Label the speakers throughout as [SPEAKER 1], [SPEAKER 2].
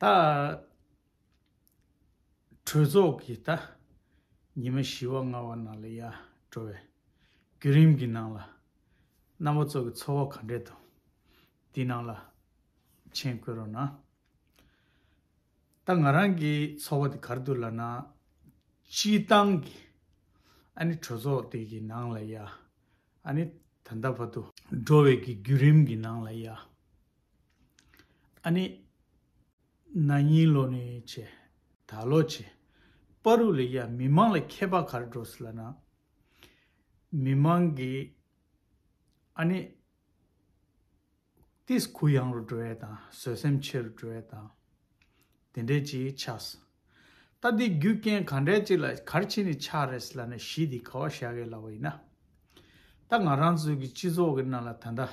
[SPEAKER 1] ད་གྲོས་ཚོགས་ཀྱི་ད་ཉི་མ་བཞི་བ་ལྔ་བ་ནང་ལ་ཡ་འགྲོ་བའི་བརྒྱུད་རིམ་གྱི་ནང་ལ་རྣམ་པ་ཚོ་གི་འཚོ་བ་ག་འདྲས་འདུག་འདི་ནང་ལ་མཆན་བཀོད་རོགས་གནང། ད་ང་རང་གི་འཚོ་བ་འདི་གར་འདུག་ལ་ན་སྤྱི་བཏང་གི་ཨ་ནི་གྲོས་ཚོགས་དེ་གི་ནང་ལ་ཡ་ཨ་ནི་ད་ལྟ་བར་དུ་འགྲོ་བའི་གི་བརྒྱུད་རིམ་གི་ནང་ལ་ཡ། ཨ་ནི། ན་ནིང་ལོ་ནི་བྱེད། ད་ལོ་བྱེད། པ་རུ་ལི་ཡཱ་མི་མང་ལ་མཁས་པ་གར་འགྲོ་སི་ལ་ན། མི་མང་གི། ཨ་ནི། ཏིས་གུ་ཡང་རུ་འགྲོ་ཡས་དང་བཟོད་སེམས་ཆེ་རུ་འགྲོ་ཡས་དང། དེ་འདྲས་ཅི་ཆགས་སི། ད་འདི་རྒྱུ་རྐྱེན་ག་འདྲས་ཅི་ལ་གར་ཆེ་ནི་ཆགས་རེད་སི་ལ་ན་གཞི་འདི་ག་བ་ཤ་གས་ལ་བ་ཡིན་ན། ད་ང་རང་ཚོའི་གི་སྤྱི་ཚོགས་གི་ནང་ལ་ད་འདྲ་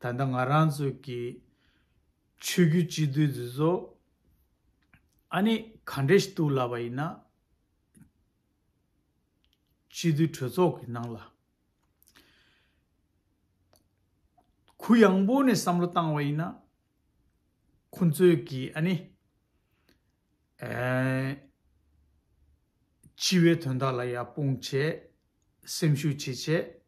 [SPEAKER 1] ད་ལྟ་ང་རང་ཚོའི་གི་ཆོས་རྒྱུད་སྤྱི་མཐུས་འདི་ཚོ་ཨ་ནི་ག་འདྲས་ཞིག་གཏུགས་ལབ་པ་ཡིན་ན། སྤྱི་མཐུས་གྲོས་ཚོགས་ཀྱི་ནང་ལ། གུ་ཡངས་པོ་ནས་བསམ་བློ་བཏང་བ་ཡིན་ན། ཁོ་ཚོས་གི་ཨ་ནི། སྤྱི་བའི་དོན་དག་ལ་ཡར་སྤུངས་བྱས། སེམས་ཤུགས་ཆེ་བྱས།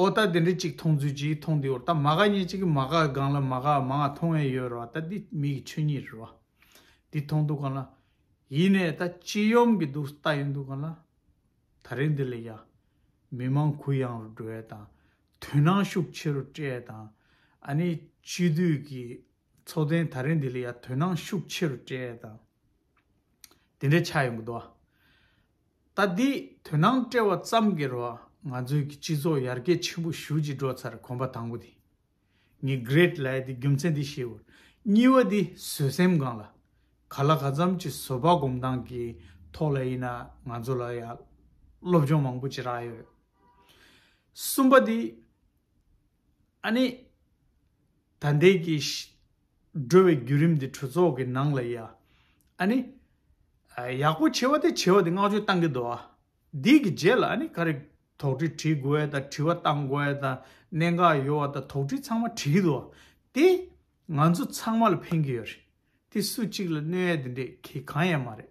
[SPEAKER 1] ཨོ་ད་དེ་འདྲའི་ཅིག་མཐོང་ཚུལ་ཅིག་མཐོང་དེ་འོར་ད་མ་ག་ཉེ་ཅིག་གི་མ་ག་སྒང་ལ་མ་ག་མ་ང་མཐོང་ཡས་ཡོད་ར་བ་ད་འདི་མི་གི་ཆོས་ཉིད་རེད་བ། འདི་མཐོང་འདུག་ག་ལ། ཡིན་ནས་ད་ཅི་ཡོམ་གི་འདུག་ལྟ་ཡི་འདུག་ག་ལ། ད་རེས་འདི་ལ་ཡ། མི་མང་གུ་ཡངས་རུ་འགྲོ་ཡས་དང། དུད་ནང་ཤུགས་ཆེ་རུ་སྤྲད་ཡས་དང། ཨ་ནི་སྤྱི་འཐུས་ཀྱི་ཚོགས་ཐེན་ད་རེས་འདི་ལ་ཡ་དུད་ནང་ཤུགས་ཆེ་རུ་སྤྲད་ཡས་དང། དེ་འདྲའི་ཆགས་ཡོང་གི་འདུག་བ། ད་འདི་དོན་སྣང་བཀྲལ་བ་ཙམ་གྱི་རོགས་ང་ཚོའི་གི་སྤྱི་ཚོགས་ཡར་རྒྱས་ཆེན་པོ་ཞུ་ཅིག་འགྲོ་ཚར་གོམ་པ་དང་པོ་དེ་ངས Great ལའི་དེ་རྒྱུ་མཚན་དེ་ཤེས་བོར་གཉིས་བ་དེ་བཟོད་སེམས་གང་ལ་ག་ལ་ག་ཙམ་གྱི་བཟོད་པ་སྒོམ་སྟངས་ཀྱི་ཐོག་ལ་ཡིན་ན་ང་ཚོ་ལ་ཡང་སློབ་སྦྱོང་མང་པོ་བྱེད་རག་ཡོད་གསུམ་པ་དེ། ཨ་ནི། ད་འདས་ཀྱི། འགྲོ་བའི་བརྒྱུད་རིམ་འདི་གྲོས་ཚོགས་ཀྱི་ནང་ལ་ཡ། ཨ་ནི། ཡག་པོ་བྱེད་པ་དེ་བྱེད་པ་དེ་བསྔགས་བརྗོད་གཏང་གི་འདུག་ཨ། འདི་གི་རྗེས་ལ་ཨ་ནི་ག་རེ། དོགས་འདྲི་དྲི་དགོས་ཡ་དང་དྲི་བ་གཏང་དགོས་ཡ་དང་གནད་འགག་ཡོད་བ་དང་དོགས་འདྲི་ཚང་མ་དྲི་གི་འདུག་ཨ། དེ། ང་ཚོ་ཚང་མ་ལ་ཕན་གྱི་ཡོད་རེད། དེ་སུ་གཅིག་ལ་གནོད་ཡ་དེ་འདྲས་གི་གང་ཡང་མ་རེད།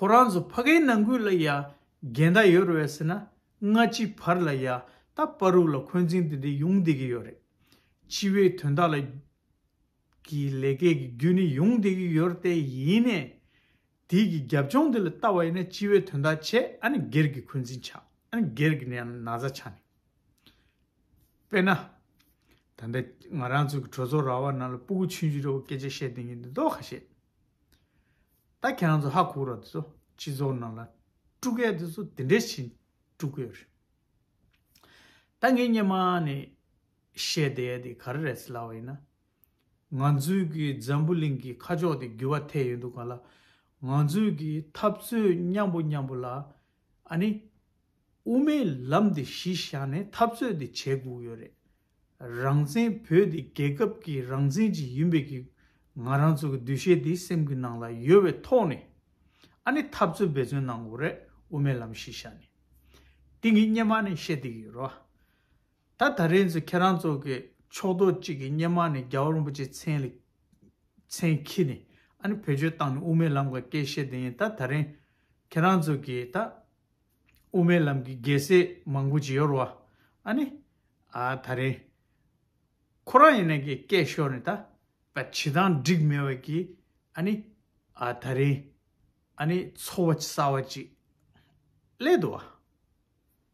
[SPEAKER 1] ཁོ་རང་ཚོ་ཕ་གའི་ནང་ཁུལ་ལ་ཡ་འགན་ད་ཡོད་རེད་ཟེར་ན་སྔ་ཕྱི་བར་ལ་ཡ་ད་པར་རུག་ལ་འཁོན་འཛིང་དེ་འདྲས་ཡོང་བསྡད་ཀྱི་ཡོད་རེད། སྤྱི་བའི་དོན་དག་ལ་གི་ལས་ཀའི་གི་རྒྱུ་ནི་ཡོང་བསྡད་ཀྱི་ཡོད་རེད་དེ་ཡིན་ནས་དེའི་གི་རྒྱབ་ལྗོངས་དེ་ལ་ལྟ་བ་ཡིན་ན་སྤྱི་བའི་དོན་དག་བྱས་ཨ་ནི་སྒེར་གི་འཁོན་འཛིང་ཆགས་ཨ་ནི་སྒེར་གི་ནི་ན་ཚ་ཆགས་ནས། དཔེར་ན། ད་ལྟ་ང་རང་ཚོ་གི་གྲོས་ཚོགས་ར་བ་ནང་ལ་སྤུ་གུ་ཆུན་ཆུན་རེ་བོ་སྐད་ཆ་བཤད་བསྡད་ཀྱི་འདུག་ག་ཤེད། ད་ཁྱེད་རང་ཚོ་ཧ་གོ་རོགས་དེ་ཚོ་སྤྱི་ཚོགས་ནང་ལ་སྤྲུལ་སྐད་དེ་ཚོ་དེ་འདྲས་བྱིན་སྤྲུལ་སྐད་རེད། ད་ངས་སྙན་མ་ནས་བཤད་བསྡད་དེ་ག་རེ་རེད་ལབ་ཡིན་ན། ང་ཚོའི་གི་འཛམ་བུ་གླིང་གི་ཁ་ཕྱོགས་དེ་འགྱུར་བ་ཐེབས་ཡོད་འདུག་ག་ལ། ང་ཚོའི་གི་འཐབ་རྩོད་མཉམ་པོ་མཉམ་པོ་ལ་ཨ་ནི། དབུ་མའི་ལམ་དེ་གཞི་བཞག་ནས་འཐབ་རྩོད་དེ་བྱེད་དགོས་ཡོད་རེད། རང་བཙན་བོད་དེ་རྒྱལ་ཁབ་ཀྱི་རང་བཙན་ཅིག་ཡིན་པའི་གི་ང་རང་ཚོ་གི་འདུ་ཤེས་དེ་སེམས་ཀྱི་ནང་ལ་ཡོད་བའི་ཐོག་ནས་ཨ་ནི་ཐབས་རྩོད་འབད་བརྩོན་གནང་དགོས་རེད་དབུ་མའི་ལམ་ཞིག་བཞག་ནས་དེ་གི་སྙེ་མ་ནས་བཤད་བསྡད་ཀྱི་ཡོད་རོ། ད་ད་རེས་ཚོ་ཁྱེད་རང་ཚོ་གི་ཕྱོགས་གཏོགས་ཅིག་གི་སྙེ་མ་ནས་རྒྱ་བོ་རིན་པོ་ཆེ་མཚན་ལ་མཚན་འཁྱིལ་ནས་ཨ་ནི་བེད་སྤྱོད་བཏང་ནས་དབུ་མའི་ལམ་ག་སྐད་བཤད་བསྡད་ཡིན་ད་ད་རེས་ཁྱེད་རང་ཚོ་གི་ད། དབུ་མའི་ལམ་གྱི་རྒྱལ་སྲས་མང་པོ་བྱེད་ཡོར་བ་ཨ་ནི། ཨ་ད་རེ། ཁོ་རང་ཡེ་ནས་ཀྱི་སྐད་ཤོར་ནས་ད་བད་བྱེད་དང་འགྲིག་མེད་བད་ཀྱི་ཨ་ནི། ཨ་ད་རེ། ཨ་ནི་ཚོ་བ་ཅི་ས་བ་ཅིག་ཀླད་དུ་བ།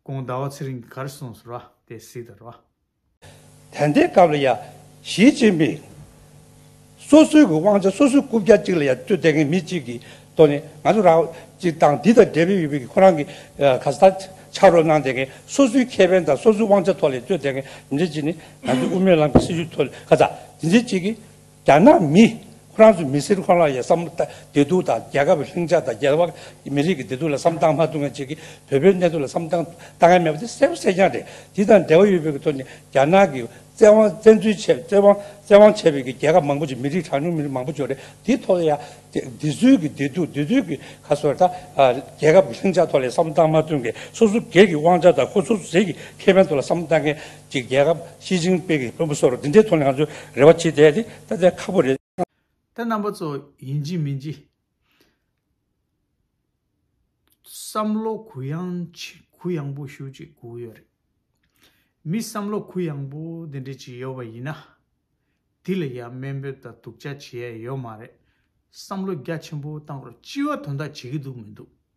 [SPEAKER 1] གོང་ཟླ་བ་ཚེ་རིང་གིས་གར་སོང་ཟེར་བ་དེ་སྲིད་དུ་ར་བ། དེ་
[SPEAKER 2] འདའི་སྐབས་ལ་ཡང་ཞིས་ཅིན་ཕིང་སོ་སོའི་གི་དབང་ཆ་སོ་སོའི་རྐུབ་བཀྱག་ཅིག་ལ་ཡང་སྤྲོད་བསྡད་མཁན་མི་གཅིག་གིས་ཏོ་ནི་ང་ཚོ་རང་གཅིག་དང་འདི་དང་འབྲེལ་བའི་ཡོད་པའི་ཁོ་རང་གི་ག་ས་ཐག་ཆགས་རོགས་གནང་བསྡད་མཁན་སོ་སོའི་ཁེ་ཕན་དང་སོ་སོའི་དབང་ཆ་ཐོག་ལས་སྤྲོད་བསྡད་མཁན་མི་འདྲ་གཅིག་ནི་ང་ཚོའི་དབུ་མའི་ལམ་གྱི་སྲིད་བྱུས་ཐོག་ལས་ག་ས་དེ་འདྲའི་གཅིག་གིས། རྒྱ་ནག་མི། ཧྥ་རན་སུ་མི་སེར་ཁོང་ལ་ཡང་བསམ་བདེ་སྡུག་དང་རྒྱལ་ཁབ་ལྷིང་འཇགས་དང་རྒྱལ་བ་མི་རིགས་ཀྱི་བདེ་སྡུག་ལ་བསམ་སྟངས་མ་ཐུག་མཁན་ཞིག་གིས་བོད་པའི་གནས་སྡུག་ལ་བསམ་སྟངས་བལྟ་མཁན་མེད་པ་དེ་གསལ་པོ་གསལ་རྐྱང་རེད། དེ་དང་འབྲེལ་བ་ཡོད་པའི་གི་ཐོག་ནས་རྒྱ་ནག་གིས་བཙན་དབང་བཙན་འཛུལ་བྱས་བཙན་དབང་བཙན་དབང་བྱས་པའི་གི་རྒྱལ་ཁབ་མང་པོ་ཞིག་མི་རིགས་གྲངས་ཉུང་མི་རིགས་མང་པོ་འབྱོར་རེད་དེའི་ཐོག་ལ་ཡང་བདེ་སྡུག་གི་བདེ་སྡུག་བདེ་སྡུག་གི་ཁ་སོ་ད་རྒྱལ་ཁབ་ཀྱི་ལྷིང་འཇགས་ཐོག་ལ་ཡང་བསམ་སྟངས་མ་ཐུག་མཁན་སོ་སོ་སྒེར་གྱི་དབང་ཆ་དང་ཁོ་སོ་སོ་ཟས་ཀྱི་ཁེ་ཕན་ཐོག་ལ་བསམ་སྟངས་མཁན། གཅིག་རྒྱལ་ཁབ་ཞི་ཅིང་པེ་གིས་བོད་མི་ཚོར་འདི་འདྲའི་དོ་ལངས་ཚོའི་རེ་བ་བྱེད་བསྡད་དེ་ད་ལྟའི་ཁག་པོ་རེད། ད་རྣམ་པ་
[SPEAKER 1] ཚོ་ཡིན་གྱི་མིན་གྱི། བསམ་བློ་གུ་ཡངས་ཆེ་གུ་ཡངས་པོ་ཞུ་ཅིག་གུ་ཡོད་རེད། མི་བསམ་བློ་གུ་ཡངས་པོ་འདི་འདྲ་ཅིག་ཡོད་པ་ཡིན་ན། དེ་ལ་ཡང་སྨན་འབོད་དང་སྡུག་ཅག་བྱེད་ཡ་ཡོད་མ་རེད། བསམ་བློ་རྒྱ་ཆེན་པོ་བཏང་རོགས་སྤྱི་བ་དོ་འདག་བྱེད་ཀྱི་འདུག་མི་འདུག།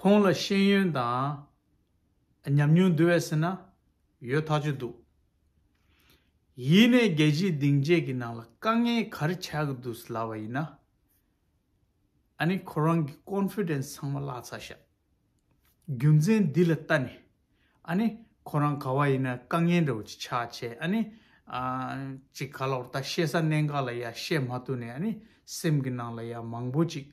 [SPEAKER 1] ཁོང་ལ་ཤེས་ཡོན་དང། ཉམས་མྱོང་འདུལ་བའི་སེར་སྣ། ཡོད་ཐག་ཆོད་འདུག། ཡིན་ནས་རྒྱལ་སྤྱིའི་སྡིངས་ཆའི་གི་ནང་ལ་དཀའ་ངལ་ག་རེ་ཆགས་ཀྱི་འདུག་ལབ་པ་ཡིན་ན། ཨ་ནི་ཁོ་རང་གི Confidence ཚང་མ་བརླག་ཚར་ཤག། རྒྱུ་མཚན་འདི་ལ་ལྟ་ནས། ཨ་ནི་ཁོ་རང་ག་བ་ཡིན་ན་དཀའ་ངལ་འདྲ་བོ་ཅིག་ཆགས་ཆེད་ཨ་ནི། ཅིག་ག་ལོག་ལྟ་བཤད་ས་གནས་འགའ་ལ་ཡ་བཤད་མ་ཐུབ་ནས་ཨ་ནི་སེམས་གི་ནང་ལ་ཡ་མང་བོ་ཅིག་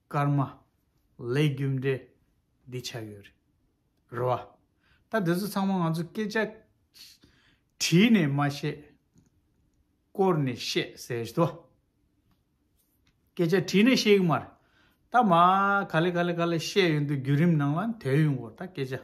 [SPEAKER 1] སྐར་མ། ལས་རྒྱུ་འབྲས། འདི་ཆགས་ཡོད་རེད། རེད་བ། ད་དེ་ཚོ་ཚང་མ་ང་ཚོ་སྐད་ཆ། དྲིས་ནས་མ་བཤད། བསྐོར་ནས་བཤད་ཟེར་བཞིན་དོ། སྐད་ཆ་དྲིས་ནས་བཤད་གི་མ་རེད། ད་མ་ག་ལེ་ག་ལེ་ག་ལེ་བཤད་ཡོད་འདུག་བརྒྱུད་རིམ་ནང་ལ་དེའི་ཡོང་གོ་ད་སྐད་ཆ།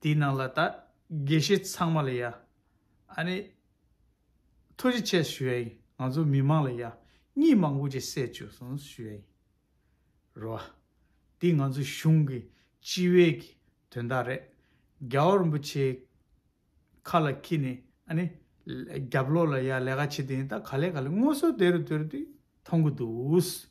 [SPEAKER 1] དེའི་ནང་ལ་ད་དགེ་བཤེས་ཚང་མ་ལ་ཡ་ཨ་ནི། ཐུགས་རྗེ་ཆེ་ཞུ་ཡ་ཡིན་ང་ཚོ་མི་མང་ལ་ཡ་གཉིས་མང་པོ་ཅིག་བསད་བཅུག་སོང་ཞུ་ཡ་ཡིན་རོ་ཨ། དེ་ང་ཚོ་གཞུང་གི་སྤྱི་བའི་གི་དོན་དག་རེད་རྒྱ་བོ་རིན་པོ་ཆེ་ཁ་ལ་ཁྱི་ནི་ཨ་ནི། རྒྱབ་ལོག་ལ་ཡ་ལས་ཀ་བྱེད་དེ་ཡིན་ད་ག་ལས་ག་ལས་ངོ་སོ་དེ་རུ་དེ་རུ་དེ་མཐོང་གི་འདུག།